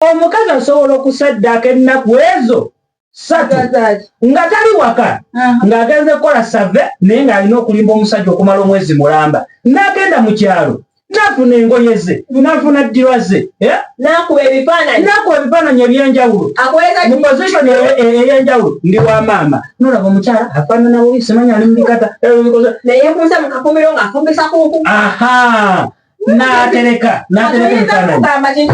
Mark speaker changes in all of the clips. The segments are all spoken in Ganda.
Speaker 1: omukazi asobola okusaddaaka ennaku ezo satu nga tali waka ng'agenze kukola save naye ng'alina okulimba omusajja okumala omwezi mulamba n'agenda mu kyalo nafuna engoye ze nafuna ddirwa ze eh?
Speaker 2: nakuba ebifaananyi
Speaker 1: ebyenjawulo mu position e, e, eyenjawulo ndi wa maama nolaba omukyala afaanana bubi simanya ali mubikata
Speaker 2: eh, aha natereka
Speaker 1: natereka ebifaananyi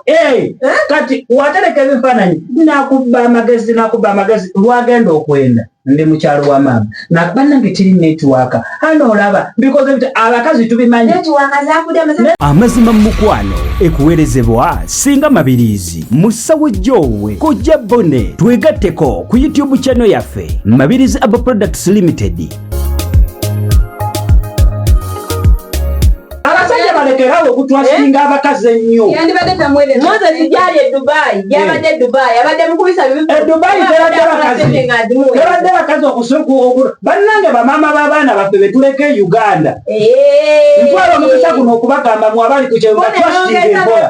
Speaker 1: eh, eh? kati watereka ebifaananyi nakubba amagezi nakubba amagezi lwagenda okwenda ndi mukyalo wa maama nakuba nange tiri netiwaka hano olaba bikoze bit abakazi tubimanyi
Speaker 3: amazima mu mukwano ekuweerezebwa singa mabiriizi mu ssawo gyoowe kojja bone twegatteko ku youtube channel yaffe mabiriizi abo products limited
Speaker 1: balekerawo okutwasinga eh? abakazi ennyo moses
Speaker 2: gyali e dubai gyabadde e dubai abadde mukubisa
Speaker 1: bidubai eh, tebadde bakazi okusuku bannange bamaama b'abaana baffe betuleka e uganda eh. ntwala omukisa guno okubagamba mu abali ku kyeyogera twasitinga enkola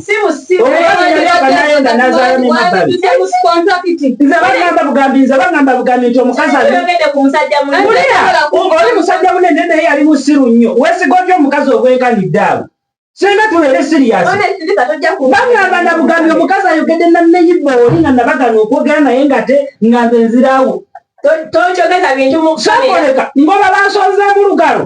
Speaker 1: bagamba bugambi nze bagamba bugambi nti omukazi oli musajja munene naye yali musiru nnyo wesiga otya omukazi ogwenkanidde awo singa tubeere siriyasibagamba na bugambi omukazi ayogedde naneyibba oli nga nabagana okwogera naye ngate nga nze nzirawo tokyogeza
Speaker 2: bintu mukusoleka ngoba
Speaker 1: bansonzemu lugalo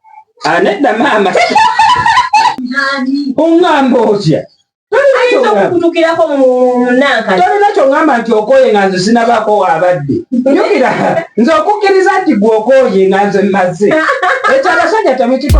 Speaker 2: anedda
Speaker 1: maama oŋŋamba otya
Speaker 2: tolina kyoŋamba nti
Speaker 1: okooye nga nze sinabaako waabadde jukira nze okukkiriza nti gwe okooye nga nze mmaze ekyo abasajja temukiko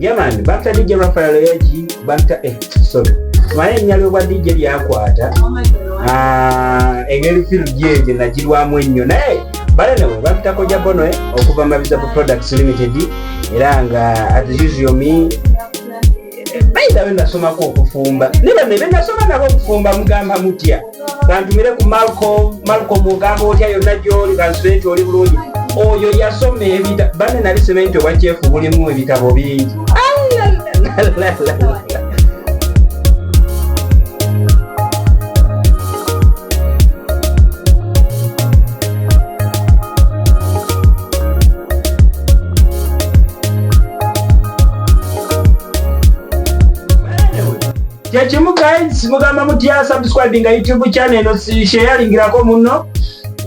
Speaker 1: Yaman banta DJ Rafael Yaji banta eh sorry maya enyalo bwa DJ byakwata ah engeri film jeje najirwamu ennyo naye bale nawe bantako ja bono eh okuva mabiza products limited era nga as usual me bayita be nasomako okufumba ne bano be nasoma nabo okufumba mugamba mutya bantumire ku malco malco mugamba otya yonna gyoli bansubenti oli bulungi oyo yasoma ebita bane nali sementi obakyefu bulimu ebitabo bingi kyekimu guys mugamba mutya subscribinga youtube channel eno sheyalingirako muno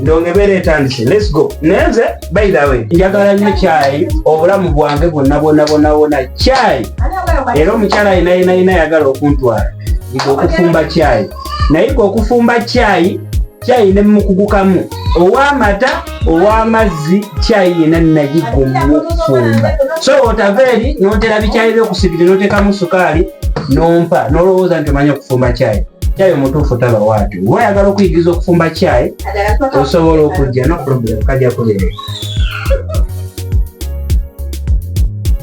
Speaker 1: ndonga ebeera etandise let's go naye nze by the way njagala nnyo kyayi obulamu bwange bwonna bwonna bwonna bwonna kyayi era omukyala yenayinayina yagala okuntwala okufumba kyayi naye gwe okufumba kyayi kyayi ne mukugukamu ow'amata ow'amazzi kyayi yena nagigumufumba so otava eri notera bikyayi byokusibiri notekamu sukaali nompa nolowooza nti omanya okufumba kyayi kyayi omutuufu taba waati oba oyagala okuyigiriza okufumba kyayi osobola okujja no problem kajja kuberera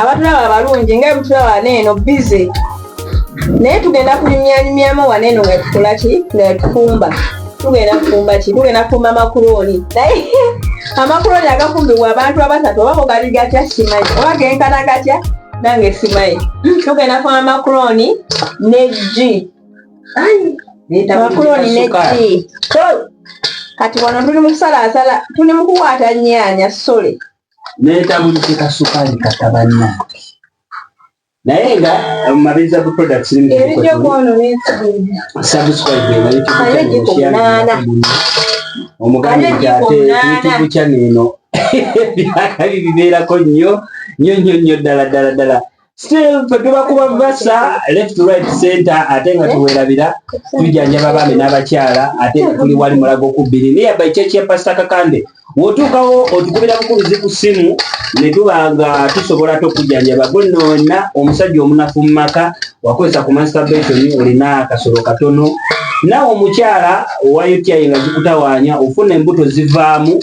Speaker 2: abatulaba abalungi nga ebutulaba neeno bize naye tugenda kunyumyanyumyamu waneeno nga tukola ki nga tufumba tugenda kufumba ki tugenda kufumba makulooni naye amakulooni agafumbibwa abantu abasatu oba mugali gatya simanyi oba genkana gatya nange simanyi tugenda kufumba makulooni ne gi makulooni ne gi kati wano tuli mukusalaasala tuli mukuwaata nyaanya sole netabulike
Speaker 1: kasukaali katabanya naye nga mumabiriza ku products omuganda nti ate youtube channel eno ebyakali bibeerako nnyo nnyo nnyo nnyo ddala ddala ddala still fe tuba kuba basa left right center ate nga tuwerabira tujjanjaba abaami n'abakyala ate nga tuli wali mulago kubbiri naye by church ya pastor kakande wotuukawo otukubira bukuluzi ku ssimu ne tuba nga tusobola te okujjanjaba gwe noona omusajja omunafu mu maka wakozesa ku masturbation olina akasolo katono nawe omukyala owa uti nga zikutawaanya ofuna embuto zivaamu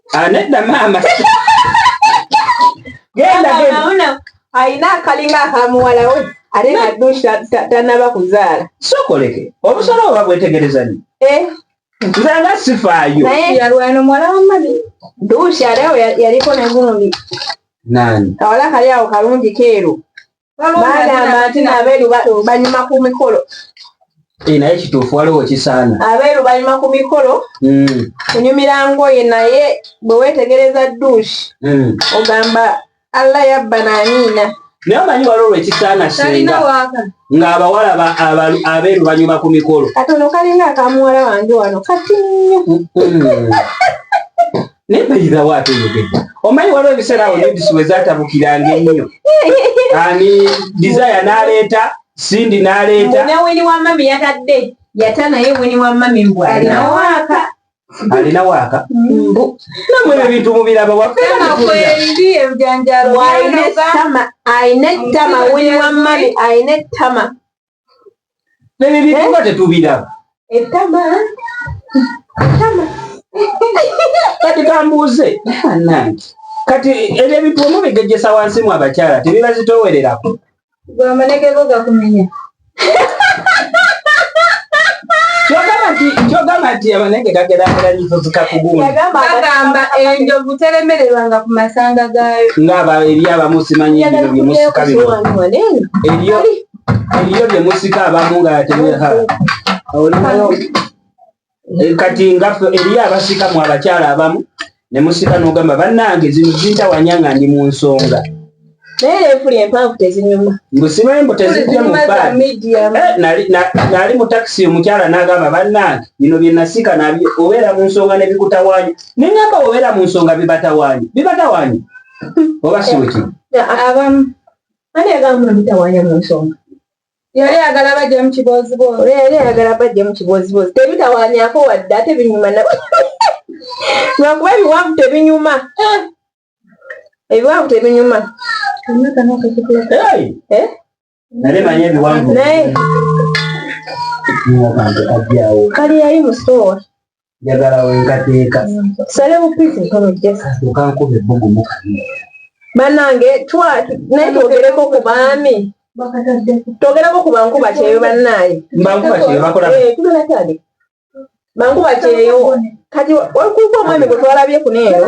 Speaker 2: anedda
Speaker 1: ah, maama
Speaker 2: genda alina akalinga akamuwalawe ate naddu tanaba kuzaala sokoleke
Speaker 1: obusolo oba bwetegereza ni eh. nze nga sifaayo yalwana omuwala
Speaker 2: wamani duusi ate yaliko negulundi nani
Speaker 1: kawala kali awo
Speaker 2: kalungi keeru bagamba nti nabeeru banyuma ku mikolo eh, naye
Speaker 1: kituufu waliwo kisaana abeeru banyuma ku
Speaker 2: mikolo hmm. kunyumira ngoye naye bwe weetegereza duushi hmm. ogamba allah yabba naniina naye omanyi waliwo
Speaker 1: lwekisaana senga ng'abawala abeeru banyuma ku mikolo katono kalinga
Speaker 2: akamuwala wange wano katinnyo hmm.
Speaker 1: naye mbalira waate oyogedde omanyi waliwo ebiseera awo nodisi we zatabukiranga ennyo ani desire n'aleeta sindi n'aleeta ne wini wa mami
Speaker 2: yatadde yata naye wini wa mami mbw alinawo waaka alina
Speaker 1: waaka mbu namwe ebyo bintu mubiraba waffeebijanjalo alina ettama
Speaker 2: alina ettama wini wa mami alina ettama
Speaker 1: Baby bibi eh? nga tetubiraba. Ettama. Ettama. Kati kambuuze. Nange. Kati ebyo ebintu omubigejjesa wansi mu abakyala tebibazitoowererako. Gwe amanege
Speaker 2: go gakumenya.
Speaker 1: kyogamba nti abanenge gageragera nyizo zikakugumbagamba
Speaker 2: enjovu teremererwanga ku masanga gaayo ngaaba eri abamu
Speaker 1: simanyi ebyo bimusika bino eriyo lye musika abamu nga yateweha olinayo eh, kati nga eriyo abasika mu abakyala abamu ne musika n'ogamba bannange zino zintawanya nga ndi mu nsonga naye efuli
Speaker 2: empanvu tezinyuma mbusimanyi mbu
Speaker 1: tezijja mubaali eh, mu takisi omukyala n'agamba bannange bino bye nasika nabyo obeera mu nsonga ne bikutawaanya ne ŋamba obeera mu nsonga bibatawaanya bibatawaanya oba siwekiri abamu
Speaker 2: Ani yagamba muno bitawanya mu nsonga? Yali ayagala bajja mu kibooziboozi, yali ayagala bajja mu kibooziboozi. Tebitawanyako wadde ate binyuma na lwakuba ebiwanvu tebinyuma, eh! ebiwanvu tebinyuma. Eh?
Speaker 1: Naye
Speaker 2: manyi ebiwanvu kali yali musoowa njagala
Speaker 1: wenkateeka sale bupiti
Speaker 2: ntonojekankuba ebbugumu banange naye twogereko ku baami twogereko ku bankuba kyeyo bannaaye bankuba kyeyo bakola
Speaker 1: eh,
Speaker 2: bankuba kyeyo kati olikuuka omwami gwe twalabye kuneeno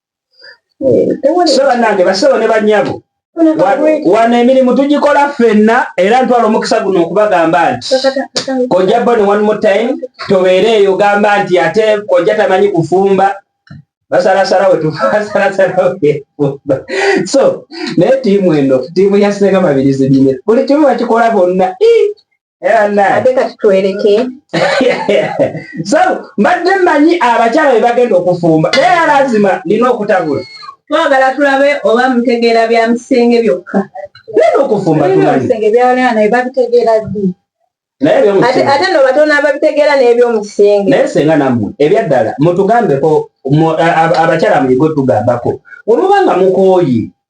Speaker 1: so banange basebo ne banyabo wano emirimu tugikola ffenna era ntwala omukisa guno okubagamba nti kojja bone one more time tobeere eyo gamba nti ate kojja tamanyi kufumba basalasala wetufasalasalaefumba so naye tiimu eno tiimu yasenga mabirizi bine buli kimu bakikola bonna
Speaker 2: ate
Speaker 1: kati twereke so mbadde mmanyi abakyala be bagenda okufumba naye alazima nina okutabula twagala tulabe
Speaker 2: oba mutegeera bya misenge byokka nina okufumba
Speaker 1: tumanyi byawulana
Speaker 2: naye babitegeera
Speaker 1: ddi ate no batono
Speaker 2: ababitegeera n'ebyomusinge naye senga nammwe
Speaker 1: ebyaddala mutugambeko abakyala muyige otugambako wemuba nga mukooye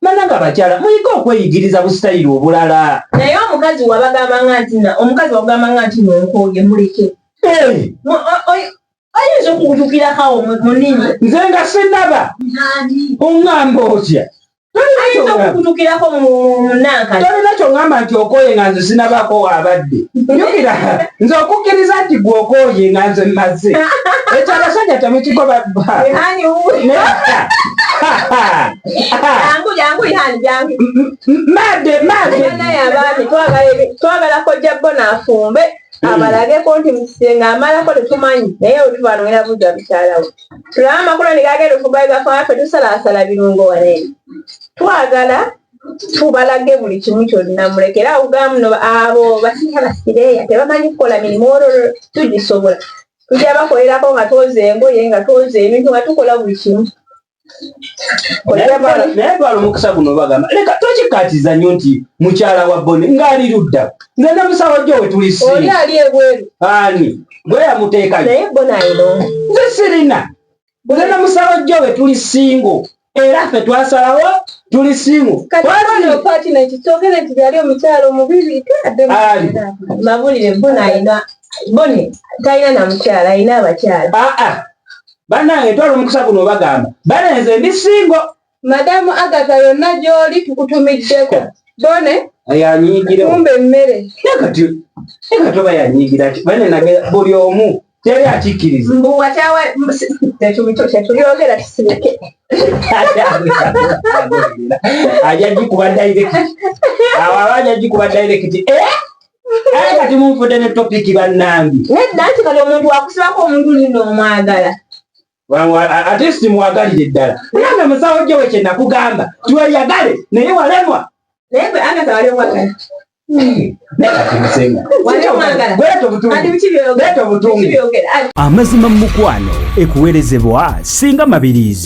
Speaker 1: Banange abakyala muyige okweyigiriza busitayiro obulala. Naye omukazi
Speaker 2: wabagamba nga nti na omukazi wagamba nga nti nonkooye muleke. Oyinza okugutukira kawo munini. Nze nga sinaba
Speaker 1: ongamba otya. Ayinza
Speaker 2: okukutukirako munanka. Tolina kyongamba
Speaker 1: nti okooye nga nze sinabako wabadde. Jukira nze okukkiriza nti gwe okooye nga nze mmaze. Ekyo abasajja temukigoba bba.
Speaker 2: twagala kojja bo nafumbe abalageko nti mukisenga amalako tetumanyi naye wetubanwera buza mukyalawo tulaba amakulu negagenda ofubaigafaafe tusalasala birungo wale twagala tubalage buli kimu kyonna mulekera okugamuno abo basiha basireya tebamanyi kukola mirimu olwo tugisobola tujja bakolerako nga twoza engoye nga twoza ebintu nga tukola buli kimu naye
Speaker 1: twala omukisa guno bagamba leka tokikatiza nyo nti mukyala wa boni ngaali ludda nze ne musawo jo wetulisioli ali ebweru
Speaker 2: ani
Speaker 1: gwe yamuteeka naye bona eno
Speaker 2: nze sirina
Speaker 1: nze ne musawo jo wetuli singo era ffe twasalawo tuli singo mabulire bona ina
Speaker 2: boni talina namukyala alina abakyala ah, ah. banange
Speaker 1: ntwala omukisa guno obagamba banenze ndi singo madamu
Speaker 2: agata yonna gyoli tukutumiddeko bone yanyigireumba
Speaker 1: emmere
Speaker 2: kati
Speaker 1: oba yanyigira ki bane nage buli omu teri akikkiriza
Speaker 2: mbuwakyawekyogera kisireke
Speaker 1: ajajikuba dairekiti awo aba ajajikuba dairekiti eh? Aye kati munfudde ne topiki bannange. Nedda nti kati omuntu
Speaker 2: wakusibako omuntu nino omwagala.
Speaker 1: Ate simwagalire ddala. Nange musawo gyewe kye nakugamba tiweyagale naye walemwa. Naye
Speaker 2: gwe Agatha wali
Speaker 3: omwagala. Amazima mu mukwano ekuwerezebwa singa mabiriizi.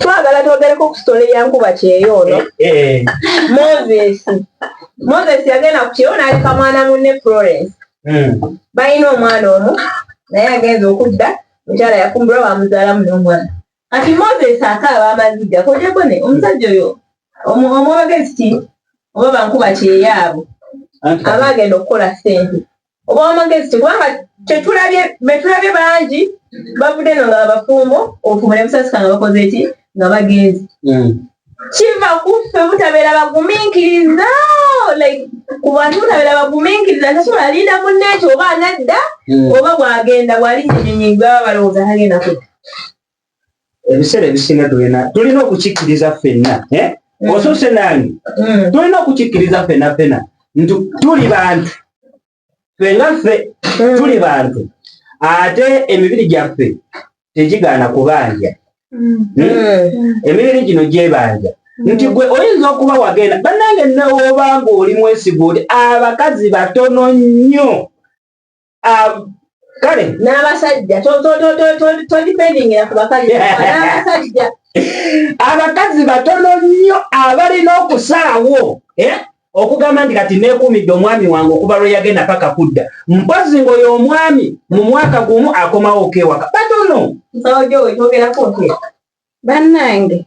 Speaker 2: twagala twogereko ku sitole ya nkuba kyeyo ono eh, eh. moses moses yagenda ku kyeyo n'aleka mwana munne florence hmm. balina omwana omu naye agenza okudda mukyala yafumbirwa bamuzaalamu n'omwana kati moses akaaba amaziga kojagone omusajja oyo omwogezi ti oba bankuba kyeyaabo aba agenda okukola sente obwamagezi tekubanga tetulabye betulabye bangi bavudde no nga abafumbo ofumbo ne busasika nga bakoze eki nga bagenzi hmm. kiva kuffe butabeera baguminkiriza like ku bantu butabeera baguminkiriza ntasobola linda munne ekyo oba anadda hmm. oba bwagenda bwalinya enyonyi gwaba balowooza tagenda kudda
Speaker 1: ebiseera ebisinga tulina tulina okukikkiriza ffenna eh? mm. osuse nange mm. tulina okukikkiriza ffena ffena nti tuli bantu fenga ffe mm. tuli bantu ate emibiri gyaffe tegigaana kubanja emibiri gino gyebanja nti gwe oyinza okuba wagenda bannange newobanga oli mwesiga oti abakazi batono nnyo
Speaker 2: um, kale n'abasajja
Speaker 1: todipendingira
Speaker 2: ku bakazi n'abasajja
Speaker 1: abakazi batono nnyo abalina okusalawo eh? okugamba nti kati neekuumidde omwami wange okuva lwe yagenda paka kudda mpozi ngaoyo omwami mu mwaka gumu akomawo okewaka batono
Speaker 2: bannange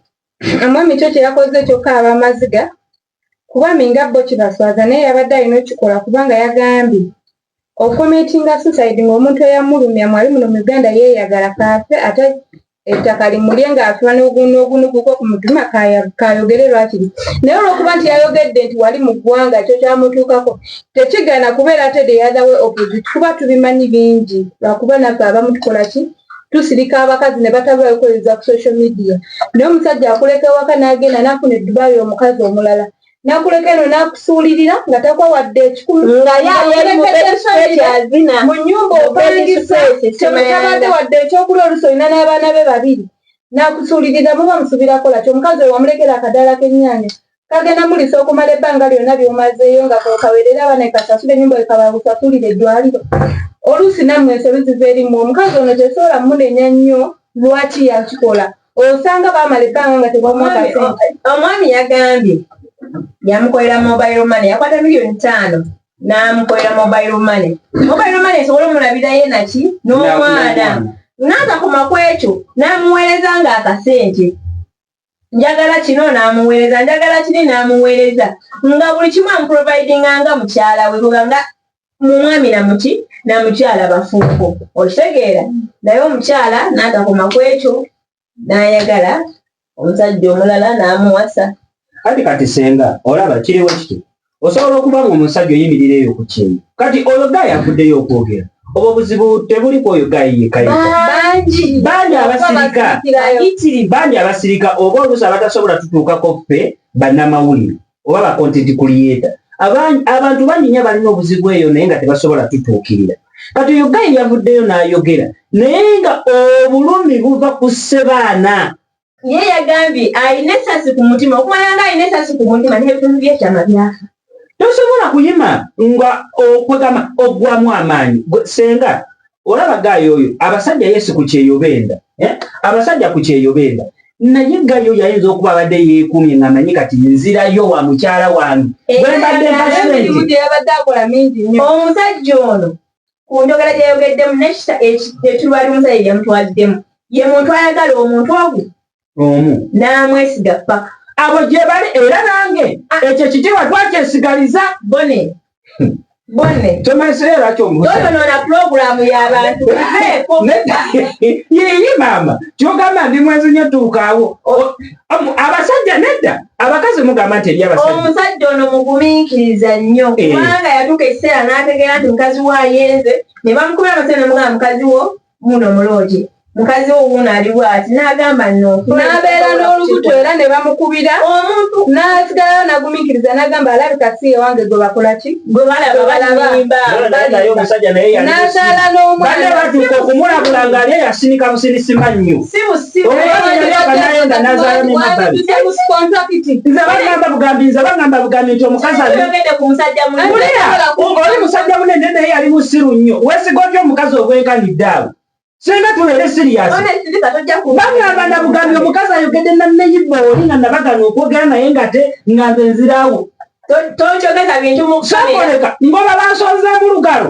Speaker 2: omwami kyo kyeyakoze kyokka abamaziga kuba minga bo kibaswaza naye yabadde alina okikola kubanga yagambye okometinga suicide ng'omuntu eyamulumya mwali muno mu uganda yeeyagala kaafe ate ettaka limulye ng'afiwa n'ogunuguko ku mutima kaayogere lwakiri naye olw'okuba nti yayogedde nti wali mu ggwanga ekyo kyamutuukako tekigana kubeera ate the other way opposite kuba tubimanyi bingi lwakuba naffe abamu tukola ki tusirika abakazi ne batabulayo kweyoza ku social media naye omusajja akuleka ewaka n'agenda n'afuna eddubaali omukazi omulala nakuleka eno nakusuulirira nga takwa wadde ekikulu nga yayamubekyazina mu nyumba opangisa temutabadde wadde ekyokulya olusi olina n'abaana be babiri nakusuulirira muba musubirakola kyo omukazi wewamulekera akadaala k'ennyanya kagenda mulisa okumala ebbanga lyonna ly'omazeeyo nga kwekawerera abana ekasasula enyumba wekabagusasulira eddwaliro oluusi nammwe ensobi ziva erimu omukazi ono tesobola munenya nnyo lwaki yakikola osanga bamala ebbanga nga tebamwakase omwami yagambye
Speaker 4: yamukolera mobile money yakwata miliyoni ttaano n'amukolera mobile money mobile money esobola omulabirayo naki n'omwana n'atakoma ku ekyo n'amuweereza ng'akasente njagala kino n'amuweereza njagala kiri n'amuweereza nga buli kimu amuprovidinga nga mukyala we kuba nga mu mwami namuki namukyala bafuuko okitegeera naye omukyala n'atakoma ku ekyo n'ayagala omusajja omulala n'amuwasa kati kati
Speaker 1: senga olaba kiriwo kiti osobola okuba nga omusajja oyimirira eyo ku kintu kati oyo gayi avuddeyo okwogera obwo obuzibu tebuli ku oyo gayi yekabangi bangi abasirika bangi abasirika oba oluusi abatasobola tutuukako ffe bannamawulire oba bakontenti kuliyeta abantu bangi nyo abalina obuzibu eyo naye nga tebasobola tutuukirira kati oyo gayi yavuddeyo n'ayogera naye nga obulumi buva ku ssebaana ye
Speaker 4: yagambye alina esasi ku mutima okumala nga alina esasi ku mutima n'ebitundu byekyama byafa tosobola
Speaker 1: kuyima nga okwegamba ogwamu amaanyi senga olaba gaayo oyo abasajja yesu ku kyeyo benda eh? abasajja ku kyeyo benda naye gayo yayinza okuba abadde yeekuumye nga manyi kati nzirayo wa mukyala wange eh,
Speaker 2: wembadde omusajja ono
Speaker 4: ku njogera gye yayogeddemu nekita etuba limusa ye yamutwaliddemu ye muntu ayagala omuntu ogu omu n'amwesiga paka abo gye bali
Speaker 1: era nange ekyo kitiibwa twakyesigaliza bone
Speaker 4: bone tomanyisayo lwaki omuyonoona pulogulaamu y'abantu
Speaker 1: yiyi maama kyogamba ndi mwenzi nyo tuukaawo abasajja nedda abakazi mugamba nti eri abasajja omusajja ono
Speaker 4: mugumiikiriza nnyo eh. kubanga yatuuka ekiseera n'ategeera nti mukazi wo ayenze ne bamukubira amasajja nemugamba mukazi wo muno mulooje mukazi wo wuuno ali bwati n'agamba no n'abeera
Speaker 2: n'olubuto era ne bamukubira omuntu n'asigalayo nagumiikiriza n'agamba alabika si ewange gwe bakola ki gwe balaba
Speaker 4: balabanazaala
Speaker 2: n'omwana batuuka okumulabula
Speaker 1: ng'ali eyasinika businisima nnyo oli musajja munene naye yali musiru nnyo wesiga otya omukazi ogwenkanidde awo singa tubeere siriyasibagamba nabugambi omukazi ayogedde naneyibba oli nga nabagana okwogera naye ngate nga nze nzirawo tokyogeza bintu mukusoleka ngoba bansonze mulugalo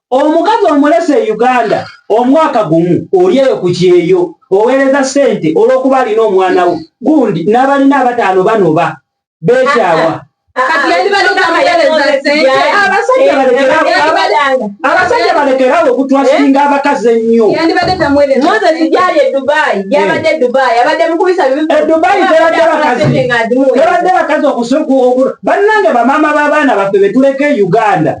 Speaker 1: Omukazi omulese e Uganda omwaka gumu oli eyo ku kyeyo oweereza ssente olw'okuba alina omwana wo gundi n'abalina abataano banoba beekyawa. abasajja balekerawo okutwasinga eh? abakazi ennyo tebadde bakazi bannange bamaama b'abaana baffe betuleka e uganda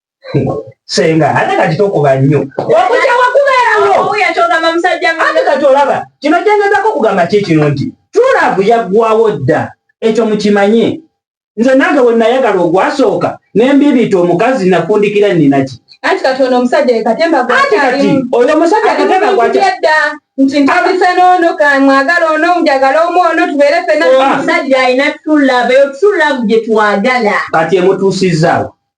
Speaker 1: senga ate kati tokuba nnyo wakuja wakubeerawo ate
Speaker 4: kati olaba
Speaker 1: kino kyengezako okugamba ki kino nti tulavu yaggwawo dda ekyo mukimanye nze nange wenayagala ogwasooka nembibiita omukazi nafundikira ninaki anti kati ono omusajja
Speaker 4: yekatemba anti kati oyo
Speaker 1: omusajja katemba gwakidda
Speaker 4: nti ntandise noono kamwagala ono njagala omu ono tubeere fena ah. omusajja alina tulava eyo tulavu gyetwagala kati emutuusizaawo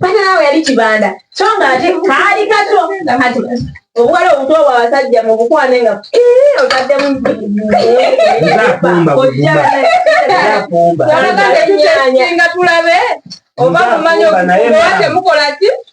Speaker 4: panaawo yali kibanda so nga ate kaali kato kati obuwala obuto obwa basajja mu bukwane nga otaddemu ojjaaaga tetusinga tulabe oba mumanya okuba temukola ki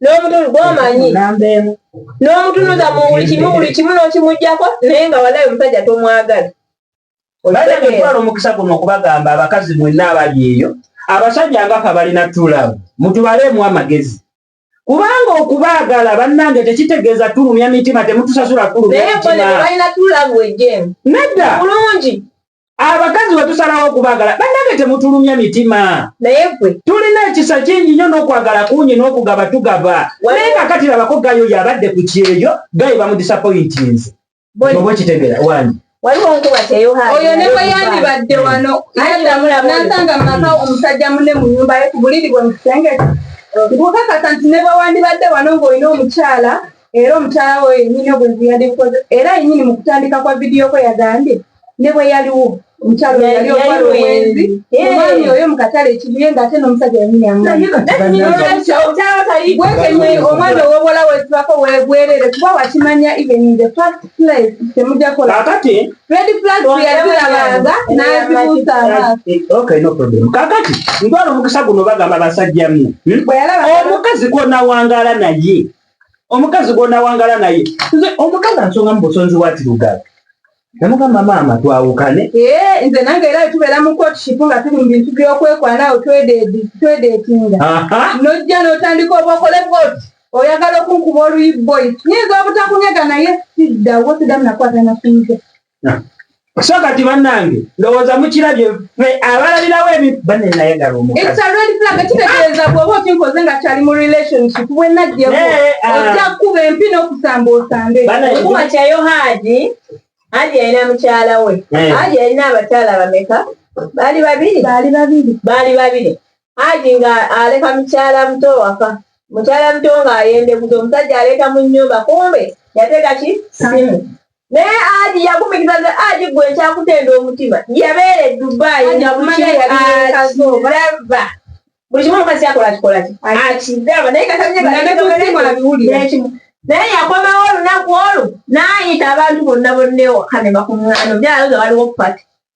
Speaker 4: n'omutundu gwomanyi n'omutunuza mu buli kimu buli kimu n'okimugyako naye nga walayi omusajja tomwagala
Speaker 1: bajja kutwala omukisa guno okubagamba abakazi mwenna abali eyo abasajja ngafe abalina tulabu mutubaleemu amagezi kubanga okubaagala bannange tekitegeeza tulumya mitima temutusasula tulumya mitima
Speaker 4: nedda abakazi
Speaker 1: wetusalawo okubagala banange temutulumya mitima naye gwe tulina
Speaker 4: ekisa kingi
Speaker 1: nyo nokwagala kungi nokugaba tugaba naye kakati labako gayo yabadde ku kyeyo gayo bamudisapointinze oba okitegera wani waliwo nkuba
Speaker 4: teyohana oyo ne bwe yandibadde wano nasanga mumaka omusajja mune mu nyumba ye ku buliri bwe mu kisenge nkukakasa nti ne bwe wandibadde wano ng'olina omukyala era omukyala wo yenyini obwenzi yandikukoze era yenyini mu kutandika kwa vidiyo kwe yagambye ne bwe yaliwo omukyalo yali okwala obwenzi omwami oyo mu katale ekibuye ng'ate n'omusajja yanyini amwekenye omwana ow'obuwala wetubako webwerere kuba wakimanya even in the first place temujja kola kakati red
Speaker 1: flag
Speaker 4: yazirabanga n'azibuusa amaaso
Speaker 1: kakati ntwala omukisa guno bagamba basajja mu hmm? omukazi gwonawangaala naye omukazi gwonawangaala naye nze omukazi ansonga mu busonzi wa tirugaga namugamba maama twawukane eh, nze nange era
Speaker 4: tubeera mu courtship nga tuli mu bintu byokwekwana awo twedetinga nojja notandika oba okole bwoti oyagala okunkuba oluyi boy nyinza obutakunyega naye siddawo sidamu nakwata nasimuze
Speaker 1: so kati bannange ndowooza mukirabye abalabirawo ebibanenayagala omukaziekitegeeza
Speaker 4: bwoba okinkoze nga kyali mu relationship bwenagyeko ah. ojja kukuba empi n'okusamba osambe okuba kyayo haji haji yalina mukyala we eh. haji yalina abakyala bameka baali babiri baali babiri baali babiri haji nga aleka mukyala muto waka mukyala muto nga ayendekuza omusajja aleeta mu nyumba kumbe yateka ki simu naye aji yagumikiza nze aji gwe nkyakutenda omutima yabeera edubai nga buliakiaba buli kimu omukazi kyakola kikolaki akigaba naye katabiwulirekimu naye yakomawo olunaku olwo nayita abantu bonna bonnewo kanema ku mwana byaloza waliwo pati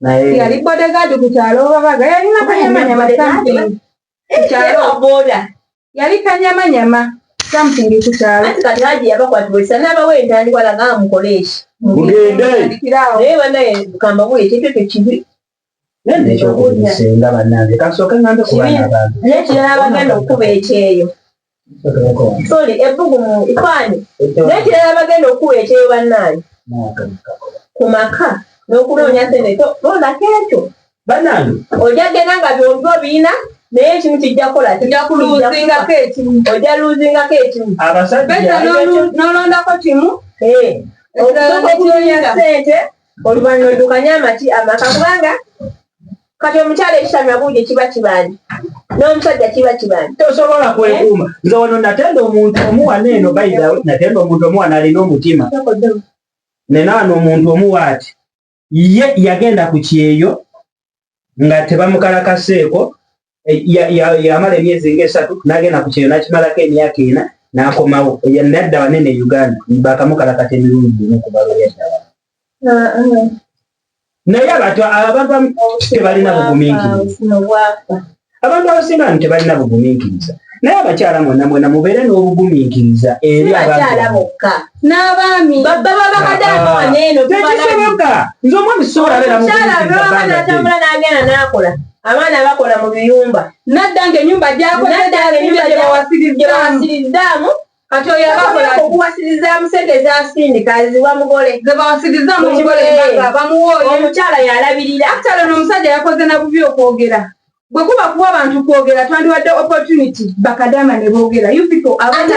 Speaker 4: naye yali bodyguard
Speaker 2: ku kyalo babaga yalina kanyamanyama something ku kyalo boda
Speaker 4: yali
Speaker 2: kanyamanyama something ku kyalo ati kati haji yabakwatibwa
Speaker 4: esa n'abawa entandikwa laga amukoleeshi mugende
Speaker 1: naye banaye
Speaker 4: kamba buli ekintu ekyo kibi nekyokusinga
Speaker 1: banange kasooke ngambe kubaana bange nekirala bagenda
Speaker 4: okukuba ekyeyo Sorry, ebbugumu ifaani n'ekirala bagenda okukuwa ekyeyo bannaange ku maka n'okunoonya sente to londako ekyo banange
Speaker 1: ojja genda nga
Speaker 4: byombi obiyina naye ekimu kijja kukola kijja kuluuzingako
Speaker 2: ekimu ojja luuzingako
Speaker 4: ekimu abasajja
Speaker 1: n'olondako
Speaker 2: kimu eh,
Speaker 4: okusooka okunoonya sente oluvannyuma oddukanye amaki amaka kubanga kati omukyala ekitami abuuja kiba kibanja n'omusajja kiba kibanja tosobola kwekuuma
Speaker 1: eh? nze wano natenda omuntu omuwana eno baida natenda omuntu omuwana alina omutima nenaano omuntu omuwaati ye yagenda ku kyeyo nga tebamukalakaseeko eh, yamala emyezi nga esatu nagenda ku kyeyo nakimalako emyaka ena nakomawo nadda wanene e uganda bakamukalakata emirundi gimu kubalo yaddawa ah, ah. naye abantu abantu tebalina buguminkiriza abantu abasinga bantu tebalina bugumiikiriza naye abakyala mwena mwena mubeere n'obugumiikiriza eri abaakyalabokka
Speaker 4: n'abaami
Speaker 2: bababakadaamawaneeno
Speaker 4: ah, tekisoboka
Speaker 1: nze omwami sobola beeramukyalaatambula
Speaker 4: n'agenda n'akola abaana bakola mu biyumba nadda nga enyumba
Speaker 2: gyakola nadda nga enyumba gyawasirizaamu
Speaker 4: kati oyo abakola
Speaker 2: okuwasiriza musente
Speaker 4: ezasindika ziwa mugole zebawasiriza mugole
Speaker 2: bamuwa oyo omukyala yalabirira
Speaker 4: akitala no omusajja
Speaker 2: yakoze na bubi okwogera bwe kuba kuwa abantu kwogera twandiwadde opportunity bakadama ne boogera you people abaana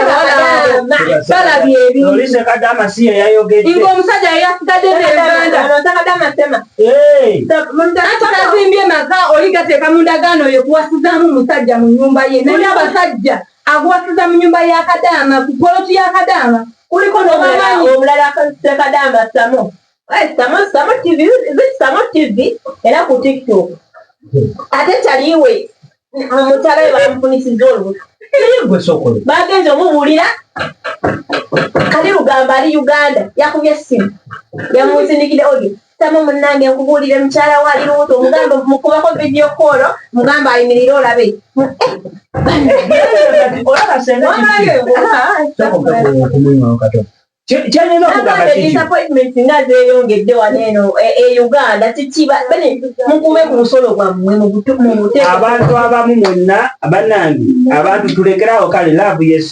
Speaker 2: balabye ebintuinga
Speaker 1: omusajja
Speaker 2: yeyasigadde nebandaatazimbye maka oli gateeka mu ndagaano oyo kuwasizaamu musajja mu nyumba ye naye abasajja Aguwasiza mu nyumba ya Kadaama ku poloti ya Kadaama kuliko n'obumanyi
Speaker 4: obulala akozesa Kadaama Samo eh, Samo Samo TV Samo TV era ku TikTok ate taliwe mutala we bamufunisiza olubuto bagenze omubuulira kati lugamba ali Uganda yakubye essimu yamunsindikidde odio tamu munnange nkubuulire mukyala wa ali lubuto omugambe mukubako vidiyo koolo mugambe ayimirire olabe disappointment nga zeyongedde wano eno e, e uganda tikiba bane mukume ku musolo gwammwe mubuteabantu
Speaker 1: abamu mwenna banange abantu tulekerawo kale laavu yesu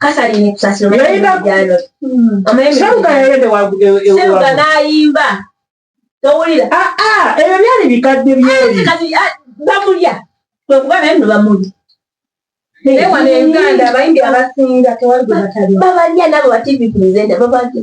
Speaker 2: Catherine
Speaker 4: Kusasiro yayimba jalo hmm. seruga yayende wagude seruga nayimba towulira ah ah ebyo
Speaker 1: byali bikadde byeri ah, kati ah, bamulya
Speaker 4: kwe kuba naye no bamulya naye
Speaker 2: wano e uganda abayimbi abasinga tewali gwe batalya babalya nabo ba tv
Speaker 4: presenter babalya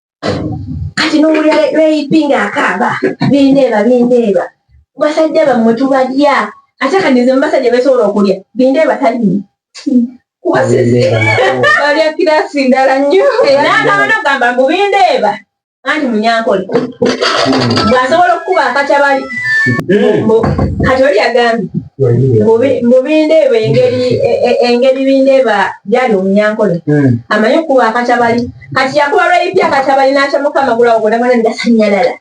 Speaker 4: kati nowulira rape nga akaaba bindeeba bindeeba basajja bammwe tubalya ate kati nze mubasajja besobola okulya bindeeba talimu
Speaker 2: balya kirasi ndala nnyo nakabana ogamba
Speaker 4: mbu bindeeba anti munyankole hmm. bwasobola okukuba akatabali kati oli agambye mubindeeba engeri e, e, bindeeba byali omunyankole hmm. amanyi okukuba akatabali kati yakuba lweyipya kati abalina akya mukama gulawo bonabona ndasanyalala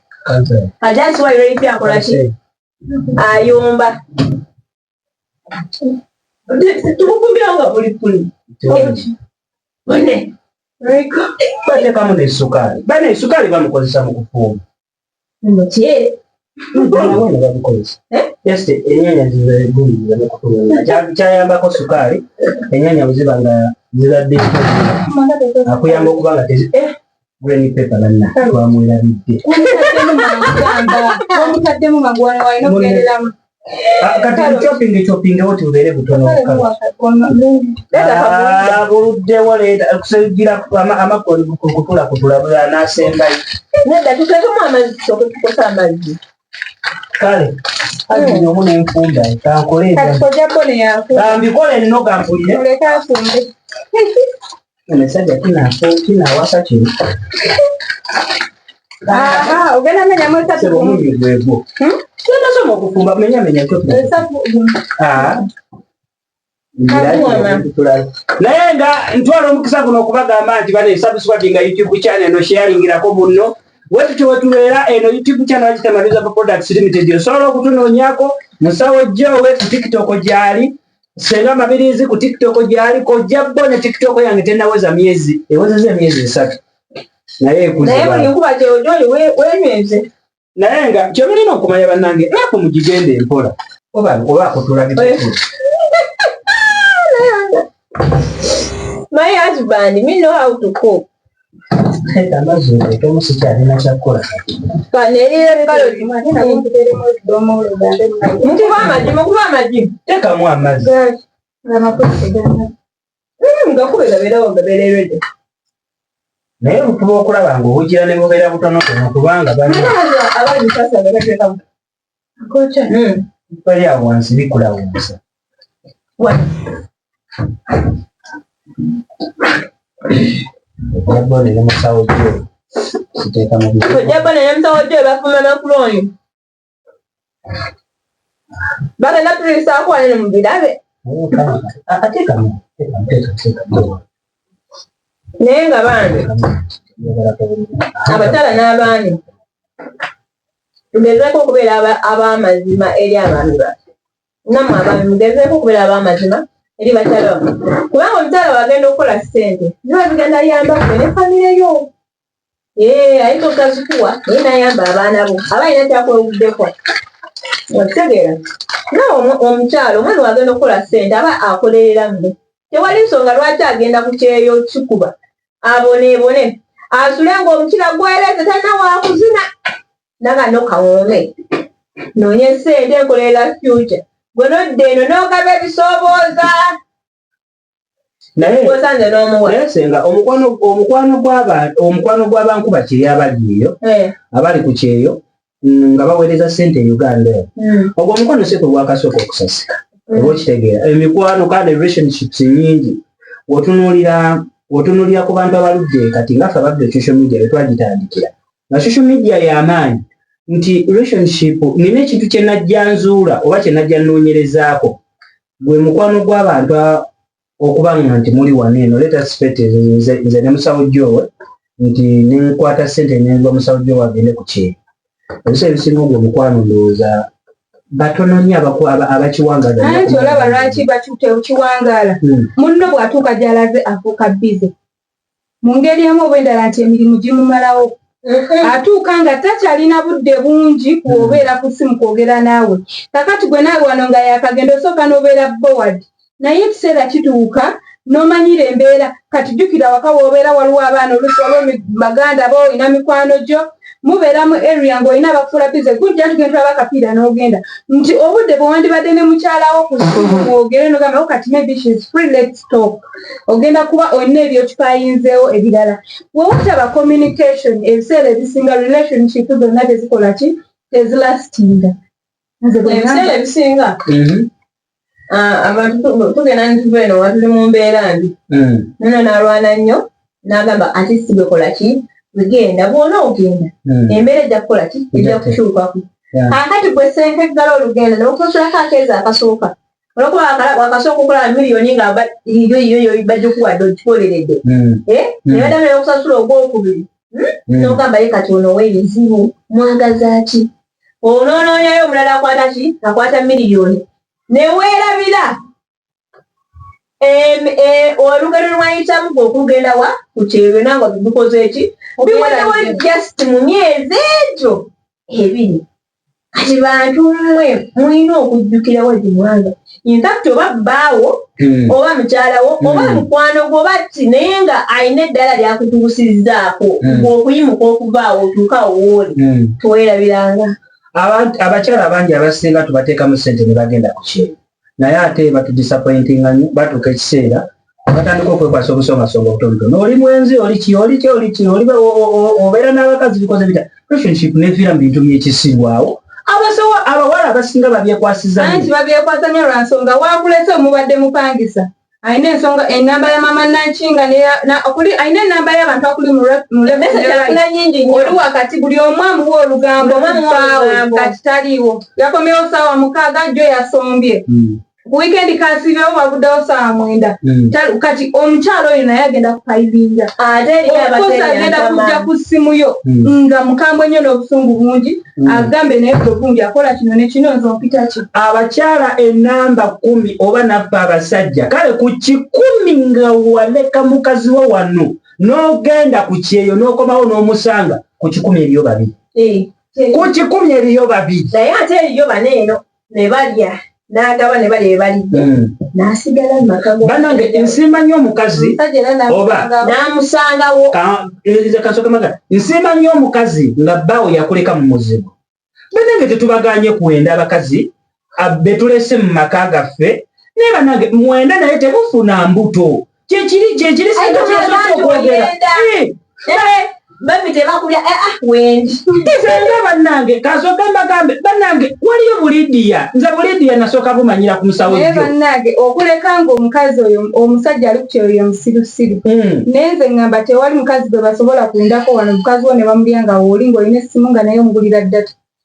Speaker 4: kati asiwa lweyipya akolaki ayomba tumukumbira nga buli kuli bane
Speaker 1: bane kamu ne sukali bane sukali bamukozesa mu kufumba enyanya zikyayambako sukaali enyanya bweziba nga zibadde akuyamba okuba nga tezi eh, green paper banna twamwerabidde
Speaker 2: kati
Speaker 1: shopping shopping wote ubeere butono buluddewo leeta okusigira amakoli kutula kutula bwe anaasembayo nedda tutekemu
Speaker 4: amazzi tusoke tukosa amazzi kale
Speaker 1: agenda omu nenfumba kankoleambikole
Speaker 2: nno gampulire
Speaker 1: omusajja kinafo kinawasa kino
Speaker 2: ogenda menya mwesatu omubiri gwegwo
Speaker 1: kyendasoma okufumba menya menya naye nga ntwala omukisa guno okubagamba nti bano esabuswadi nga youtube channel no sharingirako bunno wetutyo wetubeera eno youtube channel kitamarizaba products limited osobola okutunoonyako musawo jjo wetu tiktok gyali senga mabirizi ku tiktok gyali kojja bo ne tiktok yange tenaweza myezi ewezeza emyezi esatu naye
Speaker 4: ekuzibaenywenze naye nga
Speaker 1: kyemulina okumanya banange naku mugigenda empola oba akutulaga
Speaker 4: My husband, me know how to cook. Nkuba amajimu, nkuba amajimu. Tekamu
Speaker 1: amazi.
Speaker 4: Ngakubera bera wanga bererede.
Speaker 1: Naye bukuba okulaba nga obugira ne bubera butono tono kubanga bana. Abali
Speaker 4: sasa bera tekamu.
Speaker 2: bali
Speaker 1: awo wansi bikula wonsa ojjabbo nene musawo gyo kiteeka mu bizibu ojjabbo nene musawo gyo
Speaker 4: bafuma makulu oyo bagenda tuliisaako wanene mu birabe
Speaker 1: ateekamu teekamu teekamu teekamu
Speaker 4: naye nga bambi abakyala n'abaami Tugezeeko okubeera ab'amazima eri abaami baffe. Nammwe abaami mugezeeko okubeera ab'amazima eri bakyala baffe, kubanga omukyala wagenda okukola ssente ziba zigenda yamba ffe ne famire yo. Ee, ayinza obutazikuwa naye nayamba abaana bo aba alina kyakwewuddeko. Okitegeera nawe omukyala omwana wagenda okukola ssente aba akolerera mmwe, tewali nsonga lwaki agenda ku kyeyo kikuba aboneebone asule ng'omukira gwereze talina wakuzina naga nokawoome noonye sente enkolerera future gwe nodda eno n'ogaba ebisoobooza nayeosanze n'omuwa senga
Speaker 1: omukwano gw'abantu omukwano gw'abankuba kiri abali eyo eh. abali ku kyeyo mm, nga baweereza ssente e uganda eno mm. ogwo omukwano si kwe gwakasooka okusasika mm. oba okitegeera emikwano kandi relationships nyingi wotunuulira wotunuulira ku bantu abaludde kati nga ffe abadde social media be twagitandikira nga social media y'amaanyi nti relationship nina ekintu kye najja nzuula oba kye najja nnoonyerezaako gwe mukwano gw'abantu okuba nga nti muli wano eno leta sipeti nze nze ne musawo jowe nti nenkwata sente nenva musawo jowe agende ku kyeyo ebisa ebisinga ogwo omukwano ndowooza batono nyo abakiwangala anti olaba lwaki
Speaker 2: bakiwangala hmm. munno bwatuuka gyalaze afuuka bize mu ngeri emu oba endala nti emirimu gimumalawo atuuka nga takyalina budde bungi kuobeera ku simu kwogera naawe kakati gwe naawe wano nga yakagenda osooka n'obeera boward naye ekiseera kituuka n'omanyira embeera kati jjukira waka woobeera waliwo abaana oluusi waliwo baganda bo olina mikwano gyo mubeera mu area ng'olina abakufuula bize gujja nti gentulaba akapiira n'ogenda nti obudde bwe wandibadde ne mukyalawo ku mwogere nogamba o oh, kati maybe she is free let's talk ogenda kuba olina ebyokipayinzeewo ebirala we wataba communication ebiseera ebisinga relationship zonna tezikola ki tezilastinga nze
Speaker 4: bwebiseera ebisinga mm-hmm. ah, abantu tugenda nituva eno nga tuli mu mbeera mbi hmm. nono nalwana nnyo nagamba ati sigekola ki wegenda bwona ogenda hmm. embeera ejja kukola ki ejja kukyukaku kakati gwe senkeggala olugendo nokusosolako akeezi akasooka olwokuba wakasooka okulaba miliyoni nga yoyo bajikuwadde okikoleredde hmm. eh? nebaddamu neyokusasula ogwokubiri nogamba ye kati ono webizibu mwagaza ki onoonoonyayo omulala akwata ki akwata miliyoni ne weerabira e, olugero lwayitamu gwe okugenda wa ku kyerwe nanga bigukoze eki biwondewo just mu myezi egyo ebiri kati bantu mmwe mulina okujjukirawo gimwanga infact oba bbaawo hmm. oba mukyalawo hmm. oba mukwano gwo oba ki naye nga alina eddala lyakutuusizzaako hmm. ngaokuyimuka okuvaawo otuuka owooli tuwerabiranga
Speaker 1: abakyala abangi abasinga tubateekamu sente ne bagenda ku kyeyo naye ate batudisappointinga nyo batuuka ekiseera abatandika okwekwasa obusongasonga obutonotono oli mwenzi oli ki oli ki oli ki oli obeera n'abakazi bikoze bita relationship neviira mu bintu byekisibwawo abasawo abawala abasinga babyekwasiza nti babyekwasa nyo
Speaker 4: lwa nsonga wakulese omubadde mupangisa alina ensonga enamba ya mama nankinga okuli alina enamba y'abantu akuli muleuna nyingi oli wakati buli omu amuwa olugambo mufaawo katitaliiwo yakomewo saawa mukaaga jo yasombye hmm. ku weekend kasibewo bavudewo sawa mwenda mm. kati omukyalo oyo naye agenda kukaibinja okosa agenda kujja ku simu yo mm. nga mukambwe nyo n'obusungu bungi mm. agambe naye bwebungi akola kino nekino nze ompita ki abakyala
Speaker 1: enamba kumi oba nabba abasajja kale ku kikumi nga waleka mukazi wo wano n'ogenda ku kyeyo n'okomawo n'omusanga ku kikumi eriyo babiri eh, eh. ku kikumi eriyo babiri naye ate eriyo
Speaker 4: baneeno ne balya n'agaba ne balya ebalidde hmm. n'asigala mu maka banange nsimba nnyo
Speaker 1: omukazi oba n'amusangawo
Speaker 4: kansokemaga
Speaker 1: nsimba nnyo omukazi nga bbaawo yakuleka mu muzibu banange tetubaganye kuwenda abakazi betulese mu maka gaffe naye banange mwenda naye tebufuna mbuto kyekiri kyekiri sinakyesosokwogera
Speaker 4: bambi tebakulya eh, ah, wendi izenga
Speaker 1: bannange kasoke mbagambe bannange waliyo bulidiya nze bulidiya nasooka bumanyira ku musawo naye bannange
Speaker 4: okuleka nga omukazi oyo omusajja ali kukyeoyo musirusiru hmm. naye nze ngamba tewali mukazi gwe basobola kundako wano mukazi wo ne bamulya nga wooli ngaolina essimu nga naye omugulira data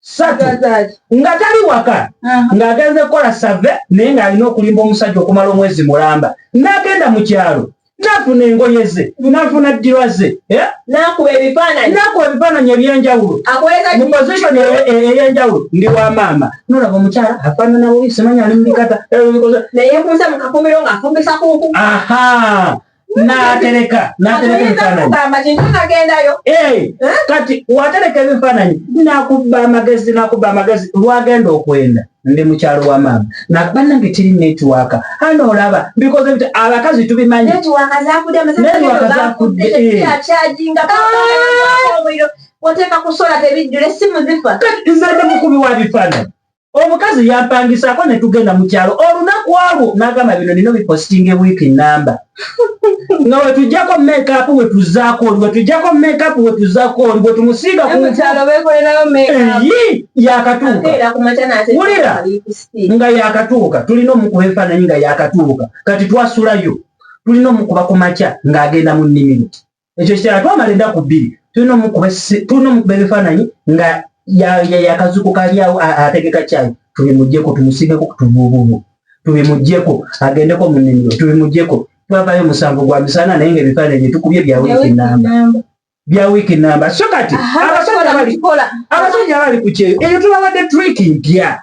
Speaker 1: satu nga tali waka ng'agenze kukola save naye ng'alina okulimba omusajja okumala omwezi mulamba n'agenda mu kyalo nafuna engoye ze nafuna ddirwa ze eh?
Speaker 4: nakuba ebifaananyi
Speaker 1: ebyenjawulo mu position eyenjawulo ndi wa maama nolaba omukyala afaanana bubi simanya ali mubikata naye kunze
Speaker 4: mukakumiro ng'afumbisa kuku aha natereka
Speaker 1: natereka ebifaananyi eh, eh? kati watereka ebifaananyi nakubba amagezi nakubba amagezi lwagenda okwenda ndi mukyalo wa maama nakuba nange tiri netiwaka hano olaba bikoze bit abakazi tubimanyi
Speaker 4: oteeka kusola tebijjula essimu zifa nze ndi mukubi wa
Speaker 1: bifaananyi omukazi yampangisaako ne tugenda mu kyalo olunaku alwo n'agamba bino nino bipositinga ewiiki nnamba nga wetujjako mekaapu wetuzaako oli wetujjako mekaapu wetuzaako oli wetumusiiga yakatuukawulira nga yakatuuka tulina omukuba ebifaananyi nga yakatuuka kati twasulayo tulina omukuba ku makya ng'agenda mu nnimiro ekyo ekirala twamala ennaku bbiri tulina omukuba tulina omukuba ebifaananyi nga yakazuku kalyawo ategeka kyayi tubimugyeko tumusigeko kutuvuubuvu tubimugyeko agendeko mu nnimiro tubimugyeko twavayo omusanvu gwa misana naye nga ebifaananyi byetukubye bya wiiki namba bya wiiki namba so kati abasajja abali ku kyeyo eyo tubabadde triiki mpya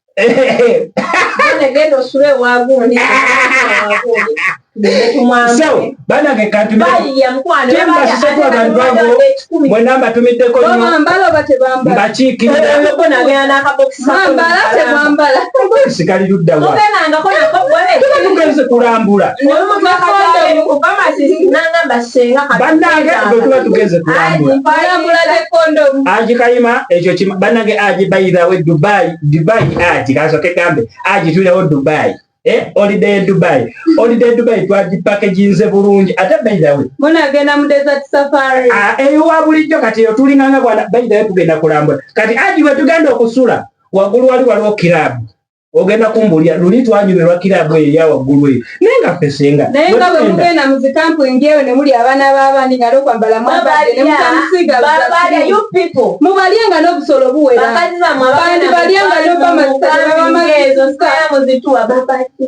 Speaker 1: banange katmwena mbatumiddeko mbakiikirisigala ludda tugenze kulambula banange bwetuba tugenze kulambula ajikayima ekyo kima banange aji by the way dubai dubai aji kaso ke kambe aji tule o dubai eh holiday dubai holiday dubai twa di package inze bulungi ata by the way mwana agenda mu desert
Speaker 2: safari ah eyo eh, wabuli jo
Speaker 1: kati yo tuli nganga bwana by the way tugenda kulambula kati aji we tugenda okusula wagulu wali wali okirabu ogenda kumbuulira luli twanyumirwa kiraabu eyo eya waggulu eyo naye nga ffe senga naye nga bwe mugenda
Speaker 2: mu zikampuni eyo ne muli abaana b'abaani nga n'okwambala mwabadde ne mutamusiiga mubalye nga n'obusolo buwera bandibalye nga n'obamazitababamaezo saamuzituwa
Speaker 1: babadde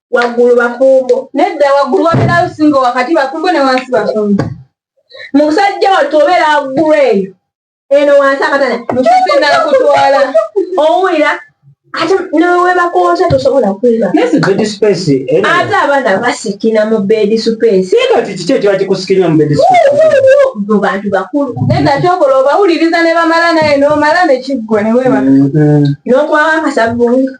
Speaker 4: waggulu bakumbo nedda waggulu wabeerayo
Speaker 2: singa wakati bakumbo ne wansi bakumbo musajja
Speaker 4: wattu obeera waggulu eyo eno wansi akatana musisi endala kutwala
Speaker 2: owulira
Speaker 4: ate newebakoota tosobola kwebaate abaana basikina mu bedi
Speaker 1: supesimu bantu
Speaker 4: bakulu naye gakyokola
Speaker 2: obawuliriza ne bamala naye nomala nekiggwa newebaka mm-hmm.
Speaker 4: nokwawakasabunga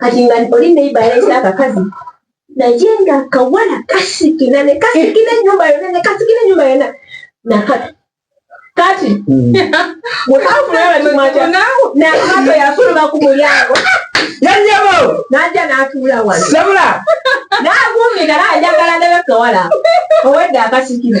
Speaker 2: kati nga oli neiba yalese akakazi naye nga kawala kasikina ne kasikina enyumba yona ne kasikina enyumba yona nakati kati mm. wekafunaabatimajanakato yafuluma ku mulyango yanyabo
Speaker 1: naja natuula
Speaker 2: wano sabula
Speaker 1: nagumika
Speaker 2: najagala nebekawala owedde akasikina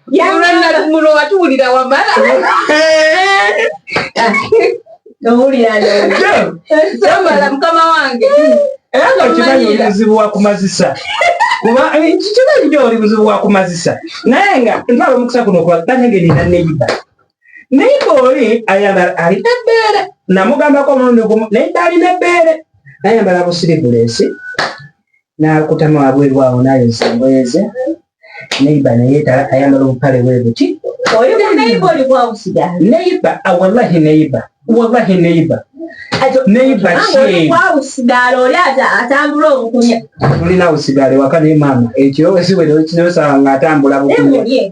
Speaker 4: muno watuwulira wamala owulirayamala mukama wange era nga
Speaker 1: okimanyi oli buzibu wakumazisa kuba eh, kikimanyi nyo oli buzibu wakumazisa naye nga ntwala omukisa kuno okubaganya nga erina neyiba naye ngaoli ayambala alina ebbeere namugambako omulundi gumu naye nga alina ebbeere nayambala busiribulesi n'akutama wabweru awo n'ayoza engoye ze neiba neyeetala ayambala obupale bwe buti
Speaker 2: neiba wallahi
Speaker 1: neiba wallahi neiba neiba
Speaker 2: kisigala oli atambula obukunya tulina usigala
Speaker 1: ewaka ne maama ekiro esiwere kinosanga atambula bukunya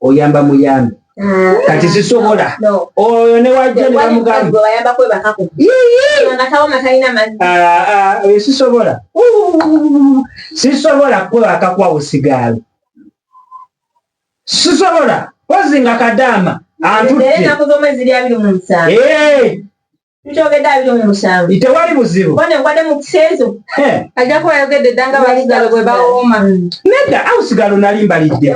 Speaker 1: oyamba muyambi ah. kati sisobola oyo newajja nebamugambaoyo sisobola sisobola kwebakakwawo sigaalo sisobola kozinga kadaama antutte Tukyogedde abiri mu musanvu. Tewali buzibu. Bone ngwade mu kiseezo.
Speaker 4: Ajja kuba ayogedde dda nga basigalo bwe bawooma. Nedda awo
Speaker 1: sigalo nali mbalidde.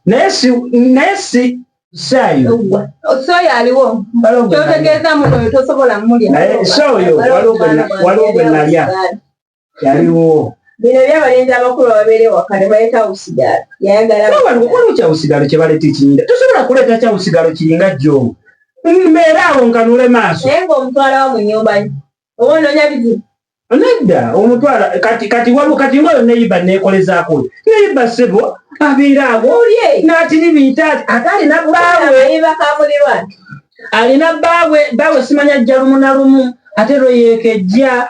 Speaker 1: Naye si naye si saayo. Sooyo
Speaker 4: aliwo. Kyotegeeza muno oyo tosobola mulya. Naye sooyo
Speaker 1: waliwo gwe nalya. kyaliwo bino byabalenzi
Speaker 2: abakulu ababeera ewaka ne baleeta usigalo yayagalaokola
Speaker 1: kyausigalo kye baleeta ekinyinda tosobola kuleeta kyausigalo kiringa jjo mbeera awo nkanule maaso naye ngaomutwala wa mu
Speaker 2: nyumba oba onoonya bizibu nedda
Speaker 1: omutwala kati kati wabu kati nga oyo neyiba neekolezaako oyo neyiba ssebo abeera awo n'atiribiita ate alina bbaawe alina bbaawe bbaawe simanya jjalumu na lumu ate lwe yeekejja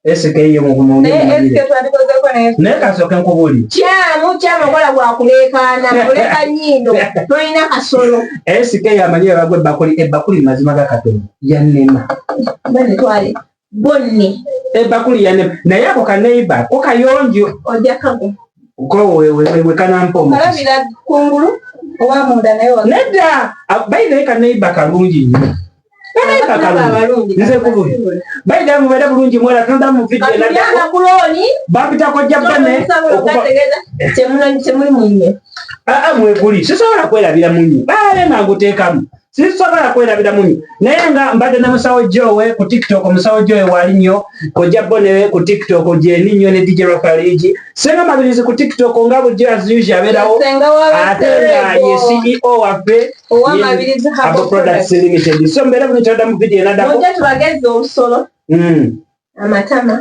Speaker 2: SK ye mu bumu ne SK
Speaker 1: twandikoze
Speaker 4: ko ne ne kasoke
Speaker 1: nkubuli kyamu kyamu kola
Speaker 2: kwa kulekana kuleka nyindo toyina kasolo SK ya manye
Speaker 1: bagwe bakuli e bakuli mazima ga katoni ya nema bane
Speaker 2: twale bonni e bakuli ya
Speaker 1: nema na yako ka neighbor ko kayonjo oja kago
Speaker 2: ko we we
Speaker 1: we kana mpo kala bila kungulu owa munda
Speaker 4: nayo
Speaker 1: nedda abaina ka
Speaker 4: neighbor
Speaker 1: kalungi nyo nze kububi bayidala mubeere bulungi mwera tonda muvidebampita kojja bane
Speaker 4: aa mweguli
Speaker 1: sisobola kwerabira munyi baale nga nguteekamu sisobola kwerabira munyi naye nga mbadde na musawo jowe ku tiktok musawo jowe wali nnyo kojja bone ku tiktok gyeni nnyo ne dj rafaligi senga mabirizi ku tiktok nga bujjo as usual abeerawo ate nga ye ceo waffe owamabirizi habo products limited so mbera mu kyada mu video nada ko ngetu bageze obusolo
Speaker 4: mm amatama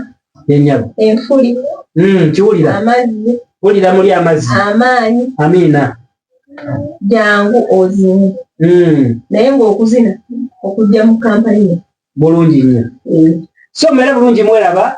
Speaker 4: yenyabo
Speaker 1: enfuli
Speaker 4: mm kiwulira
Speaker 1: amazi
Speaker 4: wulira muli amazi
Speaker 1: amaanyi amina
Speaker 4: jangu ozini mm naye ngo okuzina
Speaker 1: okujja
Speaker 4: mu
Speaker 1: kampani bulungi nnyo
Speaker 4: mm.
Speaker 1: so mbera
Speaker 4: bulungi
Speaker 1: mwelaba